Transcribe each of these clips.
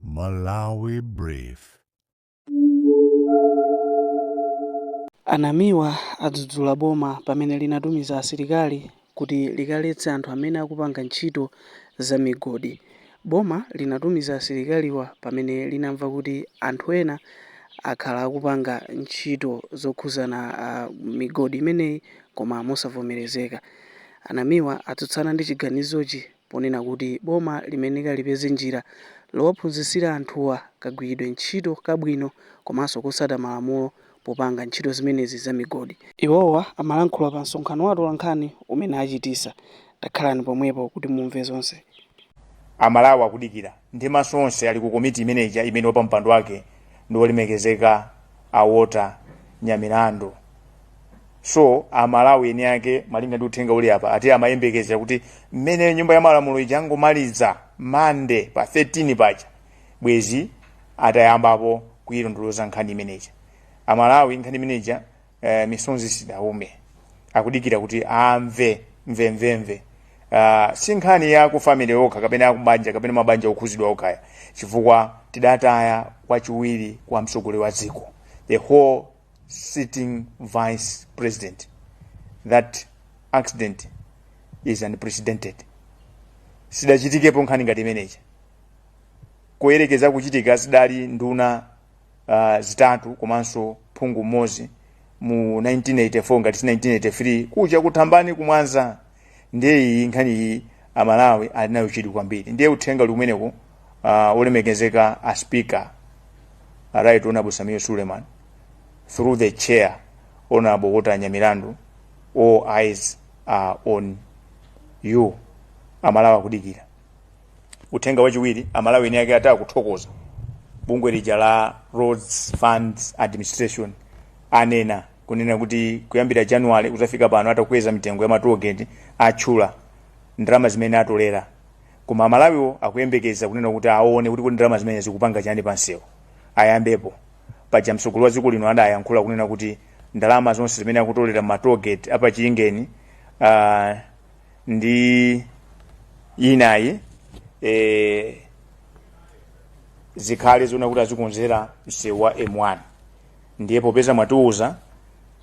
Malawi Brief. A Namiwa adzudzula boma pamene linatumiza asilikali kuti likaletse anthu amene akupanga ntchito za migodi Boma linatumiza asilikaliwa pamene linamva kuti anthu ena akhala akupanga ntchito zokhuzana migodi imeneyi koma mosavomerezeka. A Namiwa atsutsana ndi chiganizochi. ponena kuti boma limayenera lipeze njira lowaphunzitsira anthuwa kagwiridwe ntchito kabwino komanso kosata malamulo popanga ntchito zimenezi za migodi. Iwowa amalankhula pa msonkhano wa atolankhani umene achitisa. Takhalani pomwepo kuti mumve zonse. Amalawi akudikira ndi maso onse ali ku komiti imene ija imene wapampando wake ndi wolemekezeka a Walter Nyamilandu. so amalawi eni ake malinga ndi uthenga uli apa ati amayembekezera kuti mmene nyumba ya malamulo ija angomaliza Monday pa 13 paja bwezi atayambapo kuyilondoloza nkhani imeneja amalawi nkhani imeneja eh, misonzi sidaume akudikira kuti amve mvemvemve uh, si nkhani ya kufamily okha kapena akubanja kapena mabanja okhuzidwa okhaya chifukwa tidataya wachiwiri kwa mtsogoleri wa dziko the whole sitting vice president. That accident is unprecedented. Sidachitikepo nkhani ngati imeneija. Kuyerekeza kuchitika zidali nduna uh, zitatu komanso phungu mmodzi mu 1984 ngati si 1983 kuja ku Thambani ku Mwanza ndiye iyi nkhani iyi amalawi ali nayo chidwi kwambiri ndiye uthenga uli kumeneko uh, olemekezeka a speaker right honorable sameer suleman through the chair honorable walter nyamilandu all eyes are on you amalawi akudikira uthenga wachiwiri amalawi eni ake ati akuthokoza bungwe lija la roads funds administration anena kunena kuti kuyambira January kuzafika pano atakweza mitengo ya ma toll gate atchula ndalama zimene atolera koma amalawiwo akuyembekeza kunena kuti aone kuti kuti ndalama zimene zikupanga chani pansewu ayambepo paja mtsogoleri wa dziko lino adayankhula kunena kuti ndalama zonse zimene akutolera ma toll gate a pa chingeni uh, ndi inayi eh, zikhale zona kuti azikonzera msewu wa m1 ndiye popeza mwatiuza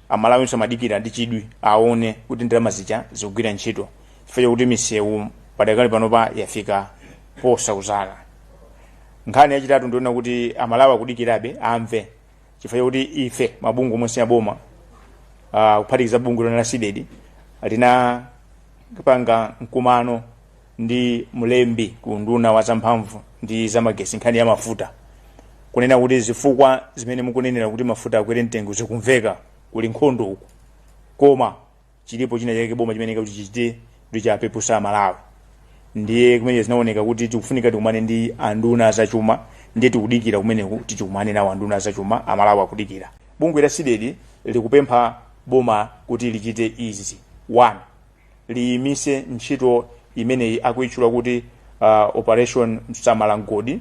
amalawinso amadikira ndi chidwi aone kuti ndalama zija zikugwira ntchito chifukwa chakuti misewu padakali panopa yafika posauzala nkhani yachitatu ndi yonena kuti amalawi akudikirabe amve chifukwa chakuti ife mabungwe omwe si aboma uh, kuphatikiza bungwe lino la cdedi linapanga mkumano ndi mlembi ku unduna wa zamphamvu ndi zamagesi nkhani ya mafuta kunena kuti zifukwa zimene mukunenera kuti mafuta akwere mtengo zikumveka kuli nkhondo uku koma chiripo china chake boma chimene kuti chichite kuti chapepusa Amalawi ndiye komwe zinaoneka kuti tikufunika tikumane ndi anduna zachuma ndiye tikudikira kumeneku tisikumane nawo anduna zachuma Amalawi akudikira bungwe la CDEDI likupempha boma kuti lichite izi one liyimise ntchito imeneyi akuitchula kuti uh, operation samala mgodi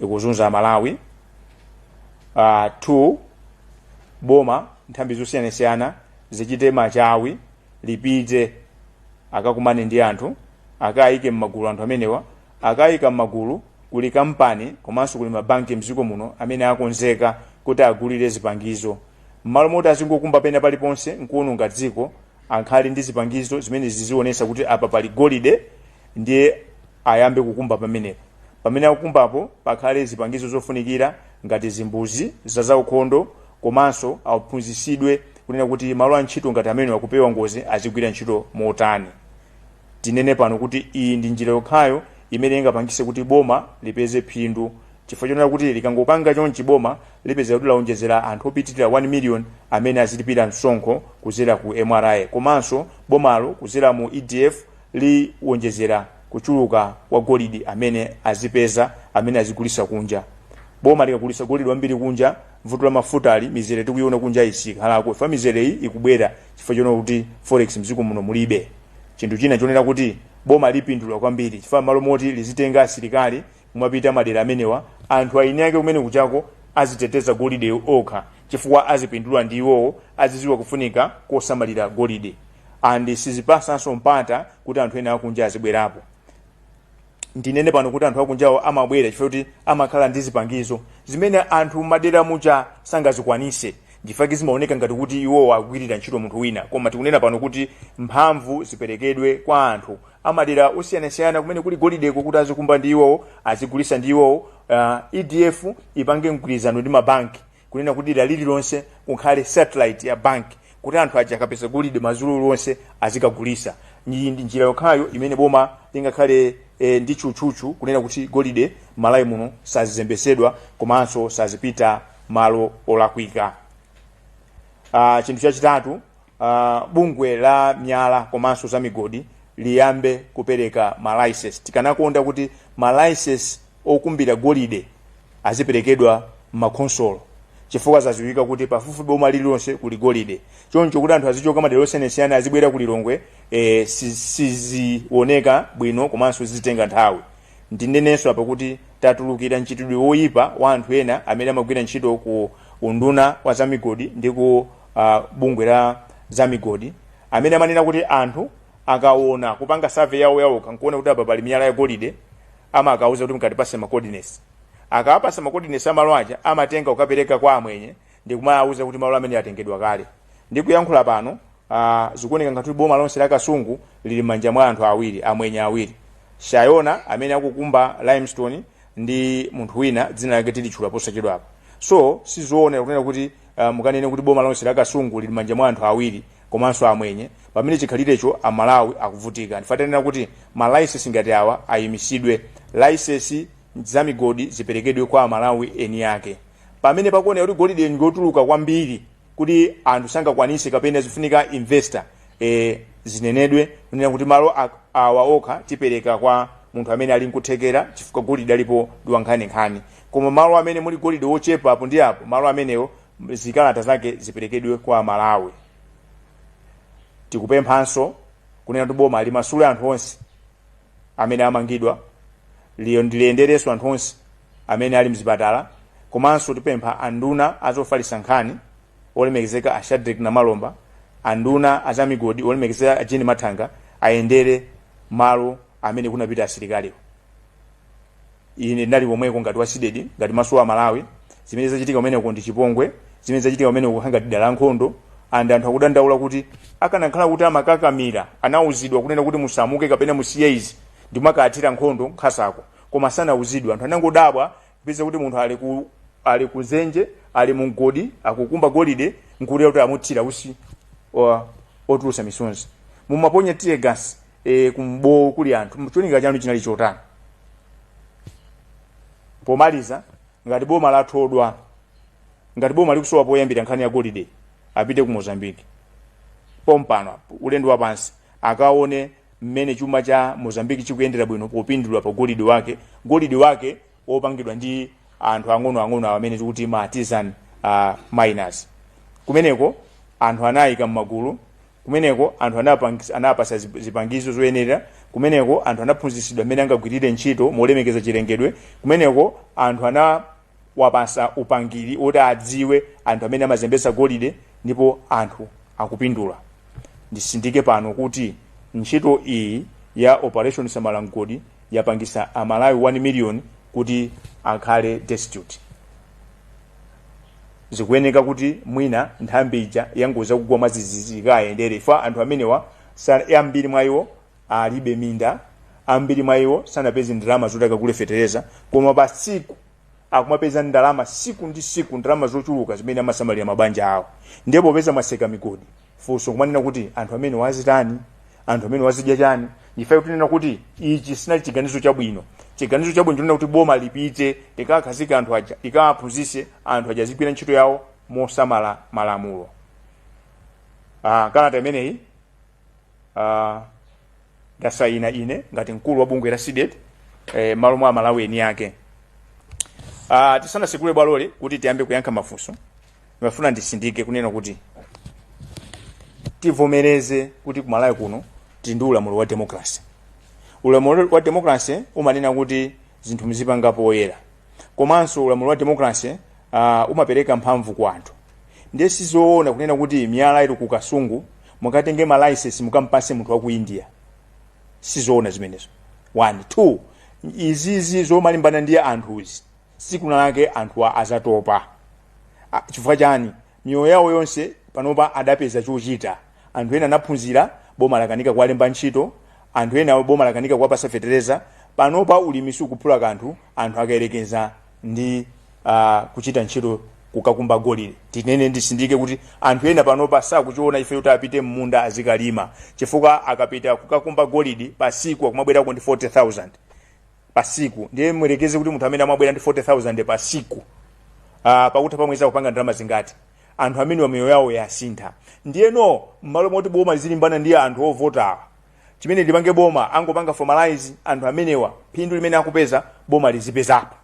ikuzunza Amalawi uh, two boma nthambi zosiyanasiyana zichite machawi lipite akakumane ndi anthu akayike m'magulu anthu amenewa akayika m'magulu kuli kampani komanso kuli mabanki mdziko muno amene akonzeka kuti agulire zipangizo m'malo moti azingokumba pena paliponse nkuononga dziko akhale ndi zipangizo zimene zizionesa kuti apa pali golide ndiye ayambe kukumba pamenepo pamene akukumbapo pakhale zipangizo zofunikira ngati zimbuzi za zaukhondo komanso aphunzisidwe kunena kuti malo a ntchito ngati amenewa kupewa ngozi azigwira ntchito motani Tinene pano kuti iyi ndi njira yokhayo imene ingapangise kuti boma lipeze phindu chifukwa chonena kuti likangopanga chonchi boma lipezeka kuti laonjezera anthu opitilira 1 million amene azilipira msonkho kuzera ku MRA komanso bomalo kuzera mu EDF liwonjezera kuchuluka kwa golide amene azipeza amene azigulisa kunja. Boma likagulisa golide wambiri kunja, vuto la mafutali, mizere tikuiona kunjayi sikhalako chifukwa mizereyi ikubwera. chifukwa chonena kuti forex mdziko muno mulibe chinthu china chonena kuti boma lipindula kwambiri chifukwa mmalo moti lizitenga asilikali kumapita madera amenewa anthu aeni ake kumene kujako aziteteza golide okha chifukwa azipindula ndi iwowo aziziwa kufunika kosamalira golide and sizipasanso mpata kuti anthu ena akunja azibwerapo ndinene pano kuti anthu akunjawo amabwera chifukwa kuti amakhala ndi zipangizo zimene anthu madera muja sangazikwanise nchifukwa chake zimaoneka ngati kuti iwowo agwirira ntchito munthu wina koma tikunena pano kuti mphamvu ziperekedwe kwa anthu amadera osiyanasiyana kumene kuli golideko kuti azikumba ndi iwowo azigulisa ndi iwowo uh, EDF ipange mgwirizano ndi mabanki kunena kuti dera lililonse kukhale satellite ya bank kuti anthu aja akapeza golide madzulo onse azikagulisa iyi ndi njira yokhayo imene boma lingakhale e, ndi tchutchutchu kunena kuti golide m'Malawi muno sazizembesedwa komanso sazipita malo olakwika Ah, chinthu chachitatu uh, bungwe la miyala komanso za migodi liyambe kupereka malicense tikanakonda kuti malicense okumbira golide aziperekedwa m'makhonsolo chifukwa zaziwika kuti pafupi boma lililonse kuli golide choncho kuti anthu azichoka madera osiyanasiyana azibwera ku lilongwe eh, si- sizioneka bwino komanso zizitenga nthawi ndinenenso apa kuti tatulukira mchitidwe woyipa wa anthu ena amene amagwira ntchito ku unduna wa zamigodi ndi ku uh, bungwe la za migodi amene amanena kuti anthu akaona kupanga survey yawo yawo akaona kuti apa pali miyala ya golide amakawauza kuti mukatipase ma coordinates akawapasa ma coordinates a malo aja amatenga kukapereka kwa amwenye ndi kumawauza kuti malo amene atengedwa kale ndikuyankhula pano uh, zikuoneka ngati kuti boma lonse la kasungu lili m'manja mwa anthu awiri amwenye awiri shayona amene akukumba limestone ndi munthu wina dzina lake tilitchula posachedwapa so sizoona kunena kuti uh, mukanene kuti boma lonse la kasungu lili m'manja mwa anthu awiri komanso amwenye pamene chikhalirecho amalawi akuvutika ndifatanena kuti malicense ngati awa ayimisidwe license za migodi ziperekedwe kwa amalawi eni ake pamene pakuoneka kuti golide akutuluka kwambiri kuti anthu sangakwanise kapena zifunika investor e, zinenedwe kunena kuti malo a- awa okha tipereka kwa munthu amene ali nkuthekera chifukwa golide alipo ndiwankhaninkhani Koma malo amene muli golide wochepa apo ndi apo, malo amenewo m- zikalata zake ziperekedwe kwa Amalawi. Tikupemphanso kunena kuti boma limasule anthu onse amene amangidwa li- ndi liyenderenso anthu onse amene ali mzipatala komanso tipempha anduna azofalitsa nkhani olemekezeka a Shadrack Namalomba anduna azamigodi olemekezeka a Jean Mathanga ayendere malo amene kunapita asilikaliwo ine ndinali komweko ngati wa CDEDI ngati maso a amalawi zimene zachitika kumeneko ndi chipongwe zimene zachitika kumeneko kukhala ngati dala nkhondo and anthu akudandaula kuti akanakhala kuti amakakamira anauzidwa kunena kuti musamuke kapena musiye izi ndi kumakathira nkhondo nkhazako koma sanauzidwa anthu anangodabwa kupeza kuti munthu ali ku ali kuzenje ali mumgodi akukumba golide nkulola kuti amuthira utsi wa- otulusa misonzi mumaponya tear gas e, kumbowo kuli anthu cholinga chanu chinali chotani pomaliza ngati boma lathodwa ngati boma likusowa poyambira nkhani ya golide apite ku mozambique pompano apo, ulendo wapansi akaone mmene chuma cha mozambique chikuyendera bwino popindula pa golide wake golide wake opangidwa ndi anthu ang'onoang'ono awo amene tikuti ma artisan uh, miners kumeneko anthu anayika m'magulu kumeneko anthu anapang- anawapasa zip- zipangizo zoyenera kumeneko anthu anaphunzitsidwa mmene angagwirire ntchito molemekeza chilengedwe kumeneko anthu anawapasa upangiri woti adziwe anthu amene amazembetsa golide ndipo anthu akupindula ndisindike pano kuti ntchito iyi ya operation samala mgodi yapangisa a Malawi 1 million kuti akhale destitute. Zikuyeneka kuti mwina nthambi ija yangodzatigwera mwadzidzidzi ikayendere chifukwa anthu amenewa sa- ambiri mwa iwo alibe minda ambiri mwa iwo sanapeze ndalama zoti akagule fetereza koma pa tsiku akumapeza ndalama siku ndi siku ndalama zochuluka zimene amasamalira mabanja awo ndiye popeza mwaseka migodi funso kumanena kuti anthu amenewa azitani anthu amenewa azidya chani ndikufuna kunena kuti ichi sinali chiganizo chabwino chiganizo chabwino nchonena kuti boma lipite likakhazike anthu aja likawaphunzise anthu aja azigwira ntchito yawo mosamala malamulo ah, kalata imeneyi uh, ndasayina ine ngati mkulu wa bungwe la CDEDI eh, malo mwa amalawi eni ake uh, tisanasekule bwaloli kuti tiyambe kuyankha mafunso ndimafuna ndisindike kunena kuti tivomereze kuti kumalawi kuno tili ndi ulamuliro wa demokrasi ulamuliro wa demokrasi umanena kuti zinthu muzipanga poyera komanso ulamuliro wa democracy uh, umapereka mphamvu kwa anthu ndiye sizoona kunena kuti miyala ili ku kasungu mukatenge malaisesi mukampase munthu wa ku india sizoona zimenezo one two izizi zomalimbana ndi anthuzi siku linalake anthu azatopa chifukwa chani miyoyo yawo yonse panopa adapeza chochita anthu ena anaphunzira boma lakanika kuwalemba ntchito anthu ena boma lakanika kuwapasa fetereza panopa ulimi sukuphula kanthu anthu akayerekeza ndi uh, kuchita ntchito kukakumba golide tinene ndisindike kuti anthu ena panopa sakuchiona chifukwa choti apite mmunda azikalima chifukwa akapita kukakumba golide pasiku akumabwerako ndi 40000 pa siku ndiye muyerekeze kuti munthu amene amabwera ndi 40000 pa siku uh, pakutha pa mwezi akupanga ndalama zingati anthu amenewa miyoyo yawo yasintha ndiyeno mmalo moti boma lizilimbana ndi anthu ovotawa chimene lipange boma angopanga formalize anthu amenewa phindu limene akupeza boma lizipezapo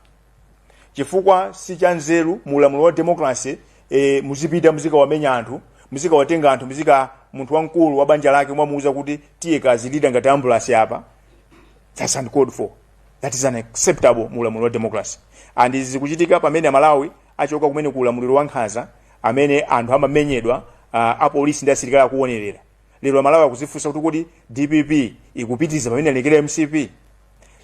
chifukwa si cha nzeru mu ulamuliro wa democracy e, muzipita muzikawamenya anthu muzikawatenga anthu muzika munthu wamkulu wa banja lake mwamuuza kuti tiye kazilira ngati ambulasi apa That's uncalled for. That is unacceptable mu ulamuliro wa democracy. And izi zikuchitika pamene Amalawi achoka kumene ku ulamuliro wa nkhanza amene anthu amamenyedwa uh, apolisi ndi asilikali akuonerera. Lero Amalawi akuzifunsa kuti kodi DPP ikupitiza pamene analekera MCP.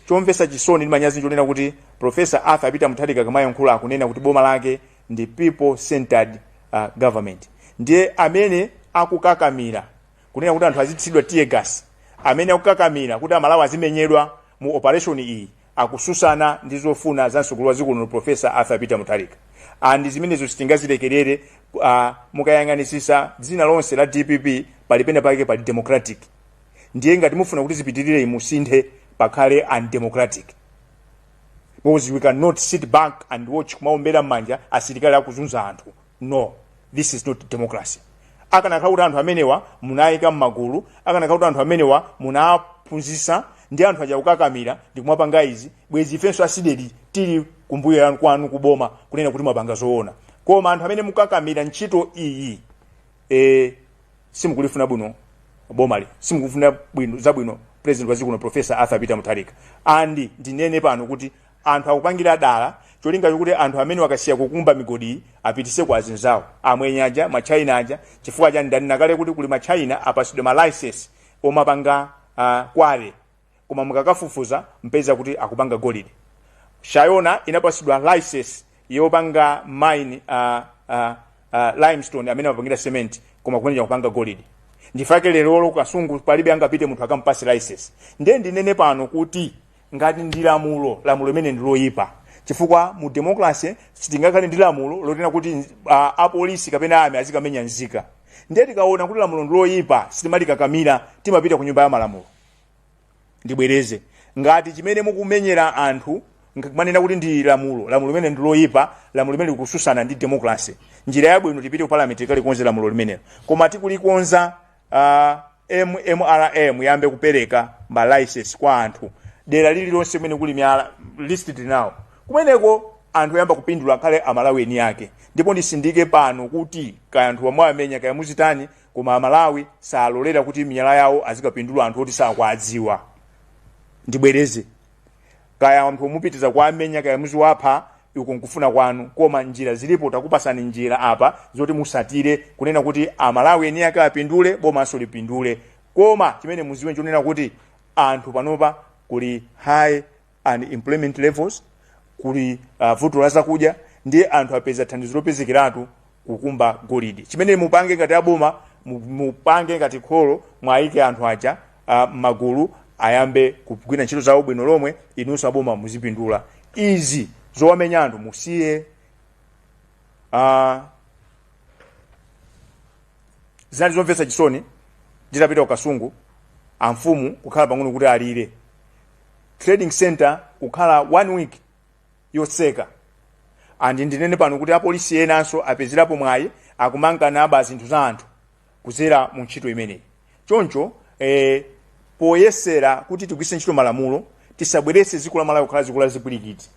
Chomvesa chisoni ndi manyazi nchonena kuti Professor Arthur Peter Mutharika akamayankhula akunena kuti boma lake ndi people centered uh, government. Ndiye amene akukakamira kunena kuti anthu azithilidwa tear gas amene akukakamira kuti amalawi azimenyedwa mu operation iyi akususana ndi zofuna za msogoleri wa ziko lino professor arthur peter mutharika and zimenezo sitingazilekerere uh, mukayang'anisisa dzina lonse la dpp pali pena pake pali democratic ndiye ngati mufuna kuti zipitirire iyi musinthe pakhale undemocratic because we cannot sit back and watch kumaombera mmanja asilikali akuzunza anthu no this is not democracy akanakhala kuti anthu amenewa munayika mmagulu akanakhala kuti anthu amenewa munaphunzisa ndi anthu aja kukakamira ndikumapanga izi bwezi ifenso a CDEDI tili kumbuyo kwanu kuboma kunena kuti mwapanga zoona koma anthu amene mukakamira ntchito iyi e, simukulifuna bwino bomali simukufuna bwino zabwino president wa dziko lino professor arthur peter mutharika and ndinene pano kuti Anthu akupangira dala cholinga chokuti anthu amenewa akasiya kukumba migodiyi apatise kwa azinzawo, amwenye aja, ma China aja, chifukwa chani ndanena kale kuti kuli ma China apasidwa ma license omapanga quarry koma mukakafufuza mupeza kuti akupanga golide. Shayona inapasidwa license yopanga mine a a a limestone amene amapangira cement koma kumeneko akupanga golide ndichifukwa chake lerolo ku Kasungu palibe angapite munthu akampase license ndiye ndinene pano kuti ngati ndi lamulo lamulo limeneli ndi loyipa chifukwa mu democracy sitingakhale ndi lamulo lonena kuti uh, apolisi kapena army azikamenya nzika ndiye tikaona kuti lamulo ndi loyipa sitimalikakamira timapita ku nyumba ya malamulo ndibwereze ngati chimene mukumenyera anthu mukunena kuti ndi lamulo lamulo limeneli ndi loyipa lamulo limeneli likususana ndi democracy njira yabwino tipite ku parliament tikalikonze lamulo limenelo koma tikalikonza a mmra muyambe kupereka ma license kwa anthu dera lililonse kumene kuli miyala list tili nawo kumeneko anthu oyamba kupindula akhale amalawi eni ake ndipo ndisindike pano kuti kaya anthu muwamenya kaya muzitani koma amalawi salolera kuti miyala yawo azikapindula anthu oti sakwadziwa ndibwereze kaya anthu mupitiza kuwamenya kaya muziwapha iko nkufuna kwanu koma njira zilipo takupasani njira apa zoti musatire kunena kuti amalawi eni ake apindule bomanso lipindule koma chimene muziwe nchonena kuti anthu panopa kuli high unemployment levels kuli uh, vuto la zakudya ndiye anthu apeza thandizo lopezekiratu kukumba golide chimene mupange ngati aboma mu- mupange ngati kholo mwayike anthu aja ah, m'magulu ayambe kugwira ntchito zawo bwino lomwe inunso aboma muzipindula izi zowamenya anthu musiye ah, zinali zomvetsa chisoni nditapita ku kasungu amfumu kukhala pang'ono kuti alire trading center kukhala one week yotseka and ndinene pano kuti apolisi enanso apezerapo mwayi akumanka naba zinthu za anthu kudzera mu ntchito imeneyi choncho eh, poyesera kuti tigwiritse ntchito malamulo tisabweretse dziko la malawi kukhala dziko la zipwirikiti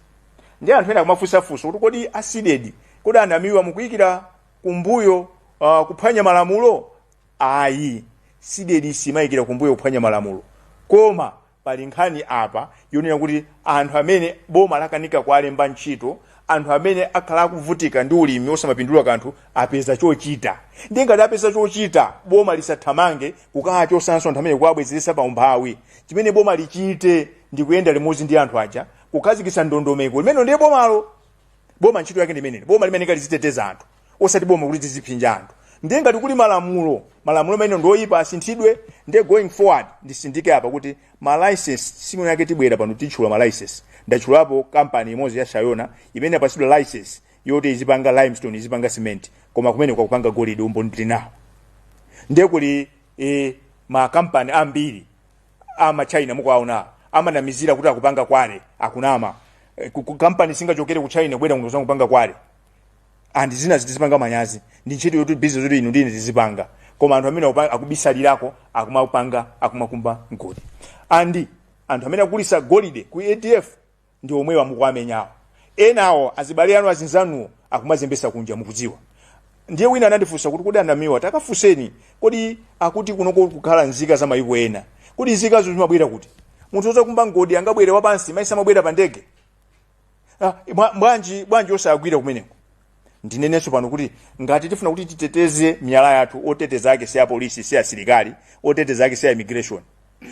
ndi anthu ena akumafunsafunsa kuti kodi a cdedi kodi a namiwa mukuyikira kumbuyo uh, kuphwanya malamulo ayi cdedi simayikira kumbuyo kuphwanya malamulo koma Pali nkhani apa yonena kuti anthu amene boma lakanika kuwalemba ntchito, anthu amene akhala akuvutika ndi ulimi osamapindula kanthu apeza chochita. Ndiye ngati apeza chochita, boma lisathamange kukawachotsanso anthu amene kuwabwezeretsa pa umphawi. Chimene boma lichite ndi kuyenda limodzi ndi anthu aja kukhazikitsa ndondomeko. Limenelo ndiye bomalo. Boma ntchito yake ndi imeneyo. Boma limayeneka liziteteza anthu. osati boma kuti tizipsinja anthu ndiye ngati kuli malamulo malamulo amene ndioyipa asinthidwe ndiye going forward nditsindike apa kuti malicense tsiku lake tibwera pano titchula malicense ndatchulapo kampani imodzi ya shayona imene yapatsidwa license yoti izipanga limestone izipanga cement koma kumene kwakupanga golide umboni tili nawo ndiye kuli e, makampani ambiri ama china mukuwaona amanamizira kuti akupanga kwale akunama e, ku- ku- kampani singachokere ku china kubwera kuno kuzanga kupanga kwale and zina zi- tizipanga manyazi ndi ntchito yoti business yoti inu ndine tizipanga koma anthu amene akupa- akubisalirako akumapanga akumakumba mgodi and anthu amene akugulitsa golide ku edf ndi omwewa mukuwamenyawo enawo azibale anu azinzanuwo akumazembesa kunja mukudziwa ndiye wina anandifunsa kuti kodi a namiwa takafunseni kodi akuti kunoko kukhala nzika za mayiko ena kodi nzikazo zimabwera kuti munthu odzakumba mgodi angabwere wapansi mayesa amabwera pa ndege Ah, bwa- bwanji bwanji osagwira kumeneko ndinenenso pano kuti ngati tifuna kuti titeteze miyala yathu oteteza ake si apolisi si asilikali oteteza ake si a immigration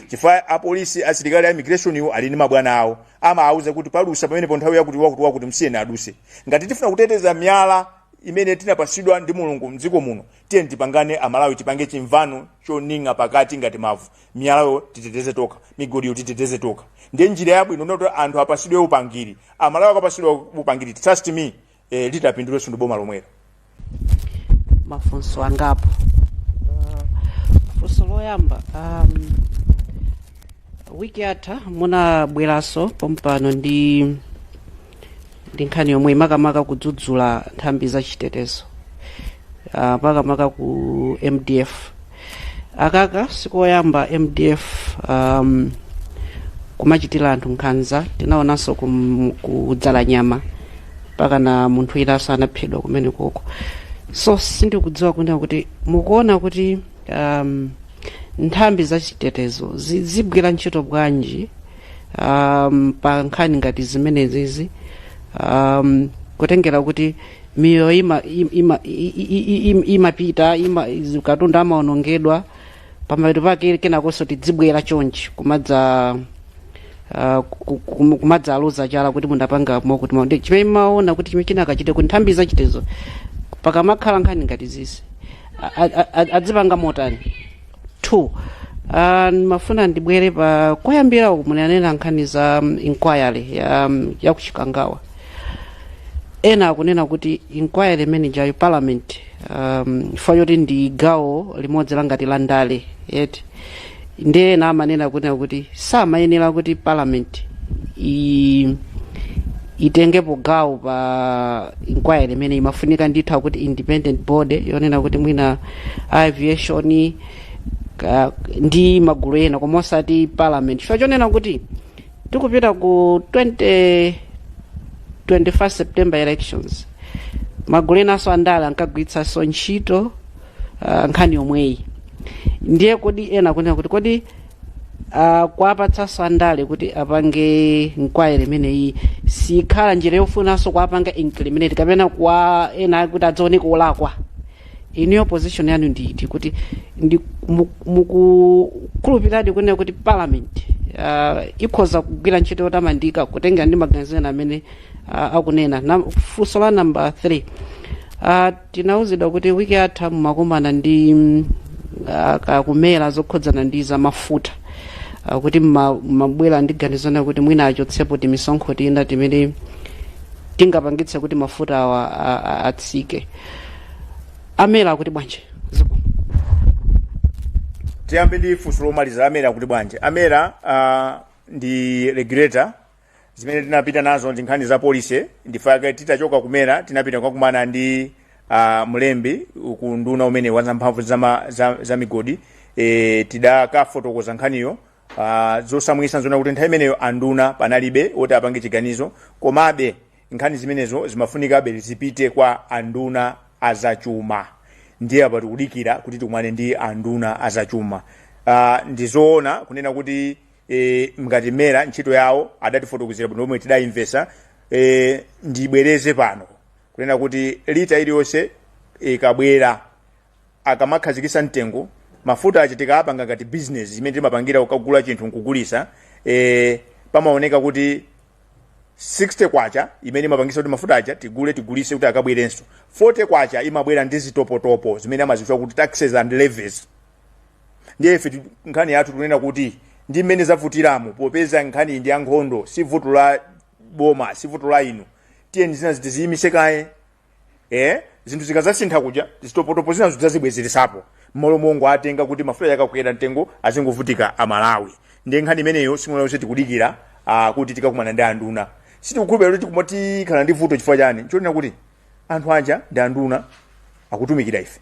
chifukwa apolisi asilikali a immigration iwo ali ndi mabwana awo amawauza kuti padutsa pamenepo nthawi yakuti wakuti wakuti msiyeni adutse ngati tifuna kuteteza miyala imene tinapatsidwa ndi mulungu mdziko muno tiyeni tipangane amalawi tipange chimvano choning'a pakati ngati mavu miyalayo titeteze tokha migodiyo titeteze tokha ndiye njira yabwino ndoti anthu apatsidwe upangiri amalawi akapatsidwa upangiri trust me eh, litapindulenso ndi boma lomwelo mafunso angapo uh, funso loyamba um, wiki yatha munabweranso pompano ndi ndi nkhani yomwe imakamaka kudzudzula nthambi za chitetezo uh, makamaka ku mdf akaka sikoyamba mdf um, kumachitira anthu nkhanza tinaonanso kum- ku Dzalanyama mpaka na munthu winanso anaphedwa kumene konko so sindikudziwa kunena kuti mukuona kuti um, nthambi za chitetezo zi- zikugwira ntchito bwanji um, pa nkhani ngati zimenezizi um, kutengera kuti miyoyo ima, ima, i- i- i- im- imapita ima, izi- katundu amaonongedwa pamapeto pake kenakonso tidzibwera chonchi kumadza uh, ku- ku- kumadzaluza chala kuti mundapanga mokuti mwina ndi chimene mumaona kuti chimene chingachitike kuti nthambi zachitetezo pakamakhala nkhani ngati zizi a- a- a- adzipanga motani 2 uh, ndimafuna ndibwere pa koyambirira uku munanena nkhani za um, inquiry ya, um, ya ku Chikangawa ena akunena kuti inquiry imeneyi ya parliament um, chifukwa choti ndi gawo limodzi la ngati la ndale yeti ndiye ena amanena kunena kuti samayenera kuti parliament i itengepo gawo pa inquiry imeneyi imafunika ndithu kuti independent body yonena kuti mwina a aviation ka- ndi magulu ena koma osati parliament chifukwa chonena kuti tikupita ku 20 21 september elections magulu enanso andale ankagwiritsanso ntchito uh, nkhani yomweyi ndiye kodi ena akunena kuti kodi uh, kuwapatsanso andale kuti apange inquiry imeneyi sikukhala njira yofunanso kuwapanga incriminate kapena kwa ena kuti adzioneka olakwa inuyo position yanu ndi iti kuti ndi mu- mukukhulupiradi kunena kuti parliament uh, ikhoza kugwira ntchito yotamandika kutengera ndi maganizo ena amene uh, akunena funso la namba 3 uh, tinauzidwa kuti wiki yatha mumakumana ndi mm, uh, akumera zokhudzana ndi za mafuta uh, kuti mma- mmabwera ndi ganizo lonena kuti mwina achotsepo timisonkho tina timene tingapangitse kuti mafuta awa a- a- atsike amera akuti bwanji zikomo tiyambe ndi funso lomaliza amera akuti bwanji amera uh, ndi regulator zimene tinapita nazo ndi nkhani za policy nchifukwa chake titachoka kumera tinapita kukakumana ndi uh, mlembi ku unduna umene wa zamphamvu za, ma- za, za migodi e, tidakafotokoza nkhaniyo uh, zosaumitsa nzonena kuti nthawi imeneyo anduna panalibe oti apange chiganizo komabe Nkhani zimenezo zimafunikabe zipite kwa anduna a zachuma, ndiye apa tikudikira kuti tikumane ndi anduna a zachuma. Uh, ndizoona kunena kuti e, ngati mera ntchito yawo adatifotokozera bwino lomwe tidayimvetsa e, ndibwereze pano kunena kuti lita iliyonse ikabwera akamakhazikisa mtengo mafuta aja tikapanga ngati business zimene timapangira ukagula chinthu nkugulisa e, pamaoneka kuti 60 kwacha imene imapangisa kuti mafuta aja tigule tigulise kuti akabwerenso 40 kwacha imabwera ndi zitopotopo zimene amazitchula kuti taxes and levies ndiye ife ti- nkhani yathu tikunena kuti ndi mmene zavutiramu popeza nkhani ndi ya nkhondo si vuto la boma si vuto la inu tiyeni zinazi tiziyimise kaye eh zinthu zikazasintha kuja zitopotopo zina zidzazibwezeretsapo mmalo mongowatenga kuti mafuta akakwera mtengo azingovutika amalawi ndiye nkhani imeneyo simwana yonse tikudikira ah, kuti tikakumana ndi anduna sitikukhulupira kuti tikuma tikhala ndi vuto chifukwa chani nchonena kuti anthu aja ndi anduna akutumikira ife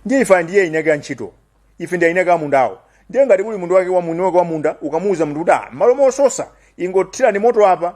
ndiye ife ndiye eni ake a ntchito ife ndiye eni ake amundawo ndiye ngati kuli mwini wake wa mwini wake wa munda ukamuuza munthu kuti ah mmalo mososa ingothirapo moto apa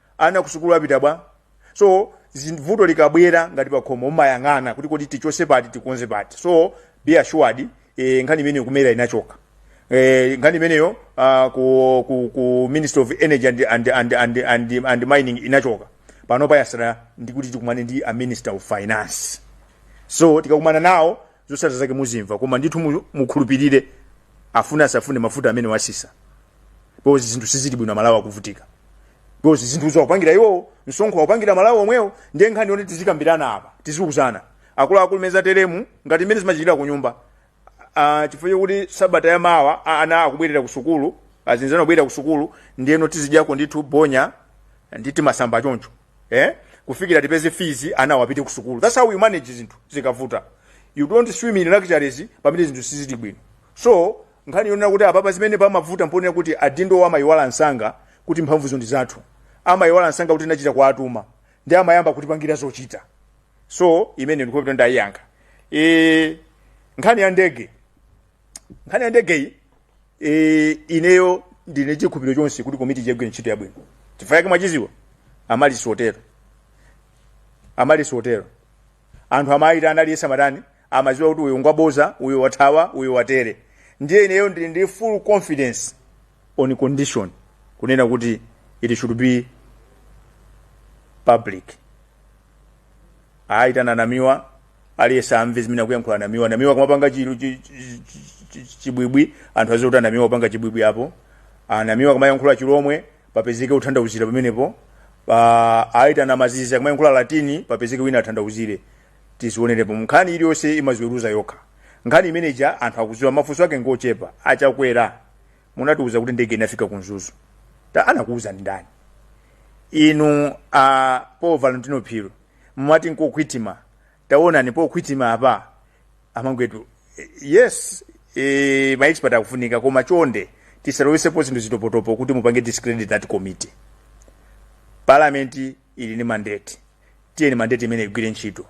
Ana kusukulu apita bwa? So zin- vuto likabwera ngati pakhomo umayang'ana kuti kodi tichose pati tikonze pati. So be assured eh, nkhani imeneyo kumera inachoka. Eh, nkhani imeneyo uh, ku, ku, ku Ministry of Energy and, and, and, and, and, and Mining inachoka. Pano payatsala ndikuti tikumane ndi a Minister of Finance. So tikakumana nawo zotsatira zake muzimva koma ndithu mu- mukhulupirire afuna asafune mafuta amenewa atsitsa. because zinthu sizili bwino amalawi akuvutika because zinthuzo akupangira iwowo msonkho akupangira malawi omwewo ndiye nkhani yoti tizikambirana apa tiziuzana akuluakulu mmene zateremu ngati mmene zimachitikira ku nyumba Ah, chifukwa chokuti sabata ya mawa a- ana akubwerera ku sukulu anzathu ana akubwerera ku sukulu ndiyeno tizidyako ndithu bonya ndi timasamba choncho eh? kufikira tipeze fizi anawa apite ku sukulu that's how you manage zinthu zikavuta you don't swim in luxuries pamene zinthu sizili bwino So, nkhani yonena kuti apapa zimene pamavuta mponena kuti adindowo amayiwala msanga kuti mphamvuzo ndi zathu. Amayiwala msanga kuti tinachita kuwatuma. Ndiye amayamba kutipangira zochita. So, imeneyo ndikuti ndayiyankha. E, nkhani ya ndege. Nkhani ya ndege iyi, e, ineyo ndili nchikhulupiriro chonse kuti komiti igwira ntchito yabwino. Chifukwa yake mwachidziwa, amali sotero. Amali sotero. anthu amayita anali yesamatani amaziwa kuti uyu ngwaboza uyu wathawa uyu watere ndiye ineyo ndili ndi full confidence on condition kunena kuti it should be public ayi tananamiwa aliyense amve zimene akuyankhula namiwa namiwa kumapanga chiru chi- chi- chi- chi- chibwibwi anthu aziwa kuti anamiwa kupanga chibwibwi apo anamiwa kumayankhula chilomwe papezeke wothandauzira pamenepo Ah, ayi tana azizi kumayankhula latini papezeke wina athandauzire tizionerepo nkhani iliyonse imaziweruza yokha nkhani imene ija anthu akuziwa mafunso ake ngochepa achakwera munatiuza kuti ndege inafika ku mzuzu ta anakuuzani ndi ndani inu a paul valentino phiri mumati nkokhwitima taonani pokhwitima apa amangwetu eh, yes eh, maexpert akufunika koma chonde tisalowesepo zinthu zitopotopo kuti mupange discredit that committee parliament ili ndi mandate tiyeni mandate imene igwire ntchito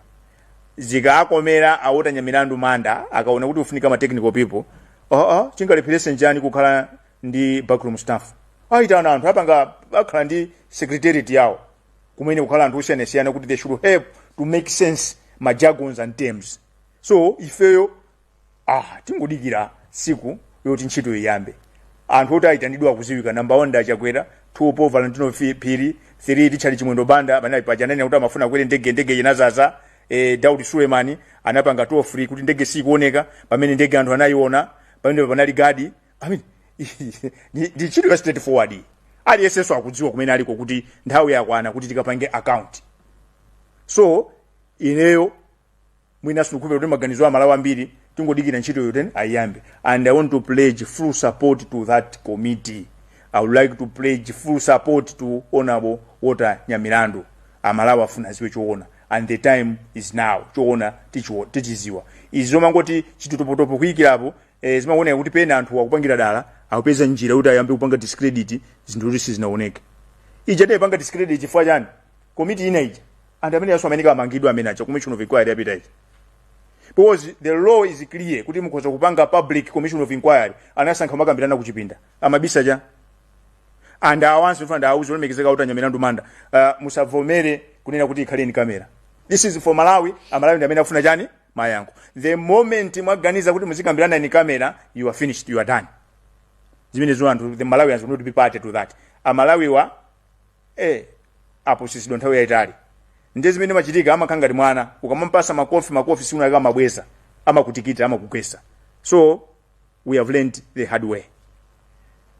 zikaakomera a walter nyamilandu manda akaona kuti kufunika ma technical people oh, oh, chingalepherese nchani kukhala ndi backroom staff aitana anthu apanga akhala ndi secretariat yawo kumene kukhale anthu osiyanasiyana kuti they should help to make sense ma jargons and terms so ifeyo ah tingodikira siku loti ntchito iyambe anthu oti ayitanidwa akuziwika number 1 ndi achakwera 2 paul valentino Fi- phiri 3 richard chimwendo banda amene ali paja ananena kuti amafuna akwere ndege ndege inazaza eh, daudi suleman anapanga toll free kuti ndege sikuoneka pamene ndege anthu anayiona pamene panali gadi I mean, ndi ndi ntchito ya straight forward iyi. aliyensenso akudziwa kumene aliko kuti nthawi yakwana kuti tikapange account so ineyo mwina ndikukhulupira kuti maganizo a amalawi ambiri tingodikira ntchitoyo ayiyambe and i want to pledge full support to that committee i would like to pledge full support to honorable walter nyamilandu amalawi afuna aziwe choona and the time is now choona tichiwo- tichiziwa izi zomangoti chitotopotopo kuyikirapo eh, zimaoneka kuti pena anthu akupangira dala akupeza njira kuti ayambe kupanga discredit zinthu kuti sizinaoneke ija adayipanga discredit chifukwa chani komiti ina ija anthu amene yaso amene kamangidwa amene aja commission of inquiry yapita ija because the law is clear kuti mukhoza kupanga public commission of inquiry anasankha kumakambirana kuchipinda amabisa chani and awanso mfuna ndawuze olemekezeka kuti anyamilandu manda uh, musavomere kunena kuti ikhale in camera this is for malawi amalawi ndi amene afuna chani mayankho the moment mwaganiza kuti muzikambirana in camera you are finished you are done zimenezo anthu the malawians will not be party to that amalawiwa eh apusitsidwa nthawi yayitali ndiye zimene machitika amakhala ngati mwana ukamamupasa makofi makofi si unayika amabweza amakutikita amakugwesa so we have learned the hard way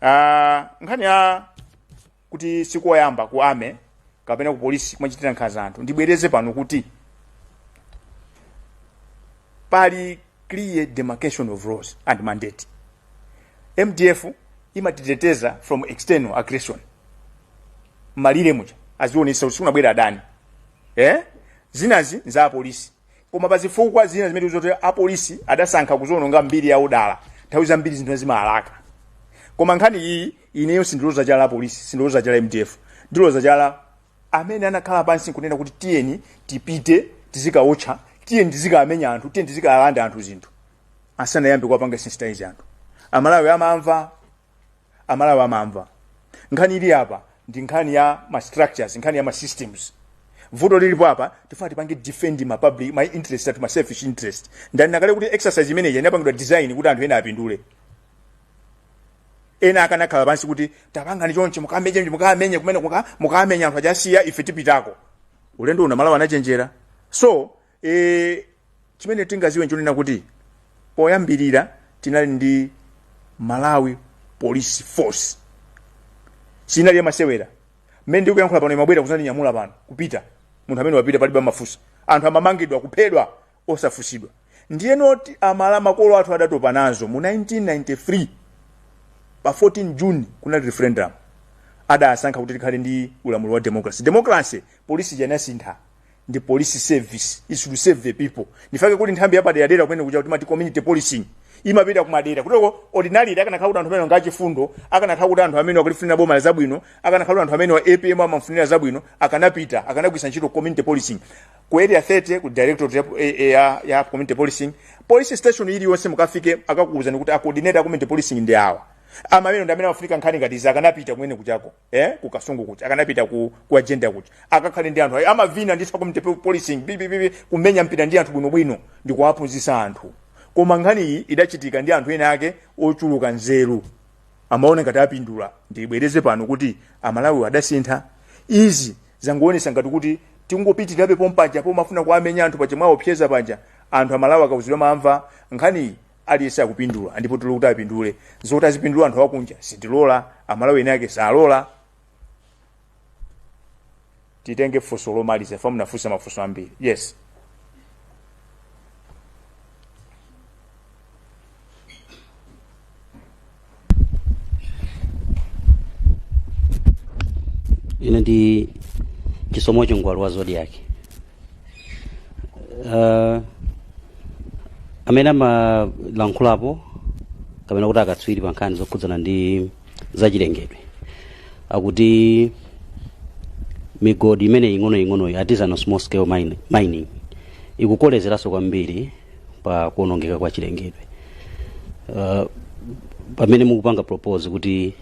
uh, nkhani ya kuti sikoyamba ku army kapena ku polisi kumachitira nkhanza anthu ndibwereze pano kuti pali clear demarcation of roles and mandate mdf imatiteteza from external aggression malire muja azionesa kuti sikunabwera adani eh? zinazi nza apolisi koma pa zifukwa zina zimene zoti apolisi adasankha kuziononga mbiri yawo dala nthawi zambiri zinthu zimalaka koma nkhani iyi ineyo sindiloza chala apolisi sindiloza chala mdf ndiloza chala amene anakhala pansi nkunena kuti tiyeni tipite tizikawotcha tiyeni tizikamenya anthu tiyeni tizikalanda anthu zinthu asanayambe kuwapanga sensitize anthu amalawi amamva amalawi amamva nkhani ili apa ndi nkhani ya ma structures nkhani ya ma systems vuto lilipo apa tifuna tipange defend ma public ma interest ati ma selfish interest ndanena kale kuti exercise imeneyi inapangidwa design kuti anthu ena apindule ena akanakhala pansi kuti tapangani chonchi mukamenye ndi mukamenye kumene kuja mukamenya anthu ajasiya ife tipitako ulendo uno amalawi anachenjera so e, chimene tingaziwe nchonena kuti poyambirira tinali ndi malawi police force sinali yamasewera mmene ndikuyankhula pano imabwera kuzandinyamula pano kupita munthu amene wapita palibe amafunsa anthu amamangidwa kuphedwa osafunsidwa ndiyeno ti- amala makolo athu adatopa nazo mu 1993 pa 14 june kunali referendum adasankha kuti tikhale ndi ulamuliro wa democracy democracy polisi ija inasintha ndi police service is to serve the people ndi chifukwa chake kuti nthambi yapaderadera kumene kuja kutimati community policing imapita kumadera kutheko ordinarily akanakhala kuti anthu amene aja achifundo akanakhala kuti anthu amene akulifunira boma la zabwino akanakhala kuti anthu amene a apm amafunira zabwino akanapita akanagwisa ntchito community policing ku area 30 ku directorate ya, ya, ya, ya community policing police station iliyonse mukafike akakuwuzani kuti acoordinator a community policing ndi awa amenewa ndi amene amafunika nkhani ngati izi akanapita kumene kujako eh ku kasungu kuja akanapita ku kwa jenda kuja akakhale ndi anthu ayi amavina ndithu a community po- policing bibibibi kumenya mpira ndi anthu bwinobwino ndi kuwaphunzitsa anthu koma nkhani iyi idachitika ndi anthu ena ake ochuluka nzeru amaona ngati apindula ndibwereze pano kuti amalawi adasintha izi Zangoonesa ngati kuti tikungopitilirabe pompaja pomafuna kuwamenya anthu paja mwaopseza paja anthu amalawi akauzidwa amamva nkhaniyi aliyese akupindula ndipo tili kuti apindule zoti azipindula anthu akunja sitilola amalawi eni ake salola titenge funso lomaliza fa munafunsa mafunso ambiri yes ine ndi chisomo chingwalu wa zodiac uh, amene amalankhulapo kapena kuti akatswiri pa nkhani zokhudzana ndi zachilengedwe akuti migodi imene ing'onoing'onoyi artisanal small scale mining ikukolezeranso kwambiri pa kuonongeka kwa chilengedwe uh, pamene mukupanga propose kuti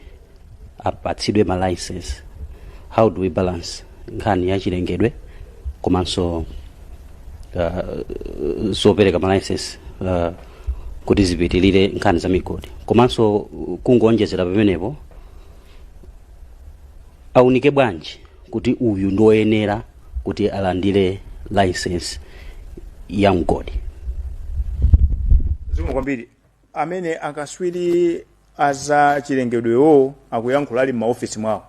apatsidwe ma license how do we balance nkhani ya chilengedwe komanso uh, zopereka ma license uh, kuti zipitirire nkhani za migodi komanso uh, kungoonjezera pamenepo aunike bwanji kuti uyu ndi woyenera kuti alandire license ya mgodi zikomo kwambiri amene akaswiri aza chilengedwewo akuyankhula ali m'maofesi mwawo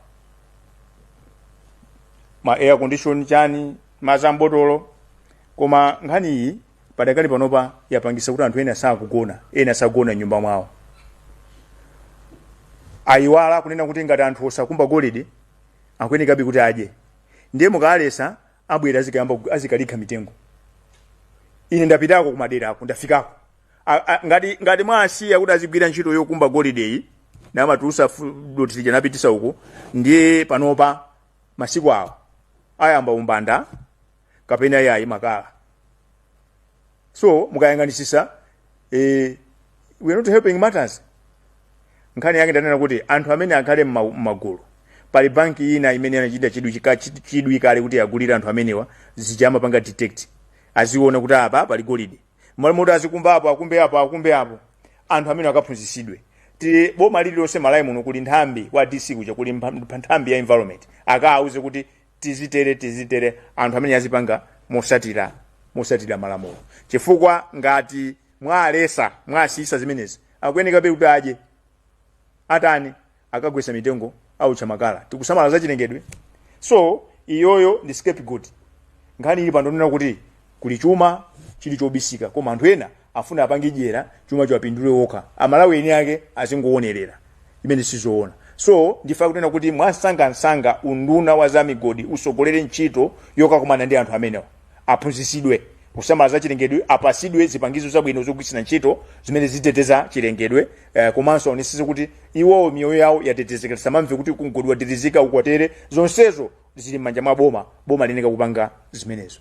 ma air condition chani mazi a mbotolo koma nkhani iyi padakali panopa yapangisa kuti anthu ena sakugona ena sagona nyumba mwawo ayiwala kunena kuti ngati anthu osakumba golide akuyenekabe kuti adye ndiye mukawalesa abwera azikayamba kug- azikalikha mitengo ine ndapitako kumadera ako ndafikako A- a- ngati ngati mwasiya kuti azigwira ntchito yokumba golideyi namatulusa dothi lija napitisa uko ndiye panopa masiku awa ayamba umbanda kapena iyayi makala so mukayang'anisisa eh, we are not helping matters nkhani yake ndi yonena kuti anthu amene akhale m'ma- m'magulu pali banki ina imene anachita chidwi chika- chi- chidwi kale kuti agulire anthu amenewa zida amapanga detect aziona kuti apa pali golide mmalo moti azikumba apo akumbe apo akumbe apo anthu amene akaphunzisidwe kuti boma lililonse m'malawi muno kuli nthambi wa dc kuja kuli mpha- mpha- nthambi ya environment akawauze kuti tizitere tizitere anthu amene azipanga mosata mosatira malamulo chifukwa ngati mwalesa mwasiyisa zimenezi akuyenekabe kuti adye atani akagwesa mitengo autcha makala tikusamala za chilengedwe so iyoyo ndi scapegoat nkhani ili pa ndi yonena kuti kuli chuma chili chobisika koma anthu ena Afuna apange dyera chuma chiwapindule okha amalawi eni ake azingoonerera chimene sizoona so ndife tikunena kuti mwansangansanga unduna wa zamigodi usogolere ntchito yokakumana ndi anthu amenewa aphunzisidwe kusamala za chilengedwe apasidwe zipangizo zabwino zogwiritsira ntchito zimene ziteteza chilengedwe eh, komanso aonesese kuti iwowo miyoyo yawo yatetezeka tisamamve kuti mgodi wadilizika ukoteere zonsezo zili m'manja mwa boma boma liyeneka kupanga zimenezo